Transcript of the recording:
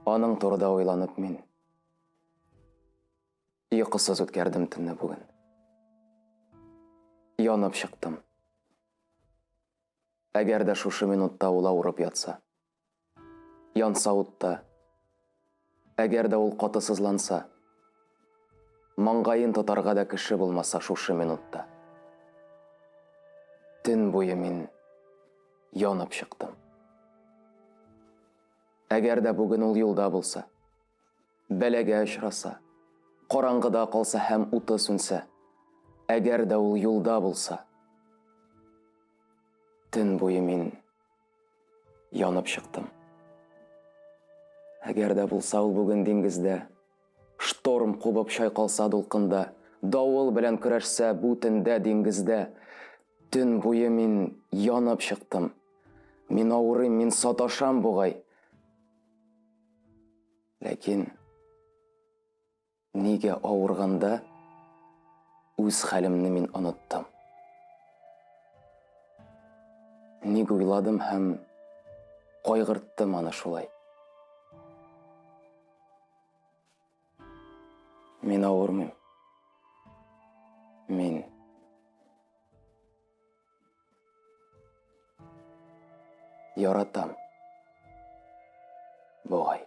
Аның турыда уйланып мин йокысыз үткәрдем төнне бүген. Янып чыктым. Әгәр дә шушы минутта ул авырып ятса, Янса утта. Әгәр дә ул каты сызланса. Маңгаен тотарга да кеше булмаса шушы минутта. Төн буе мин янып чыктым. Әгәр дә бүген ул юлда булса, бәләгә очраса, караңгыда калса һәм уты сүнсә, әгәр дә ул юлда булса, төн буе мин Янып чыктым. Әгәр дә булса ул бүген диңгездә, Шторм кубып чайкалса дулкында, Давыл белән көрәшсә бу төндә диңгездә, Төн буе мин янып чыктым. Мин авырыйм, мин саташам бугай. Ләкин Нигә авырганда үз хәлемне мин оныттым? Ник уйладым һәм кайгырттым аны шулай? Мин авырмыйм. Мин Яратам. Бугай.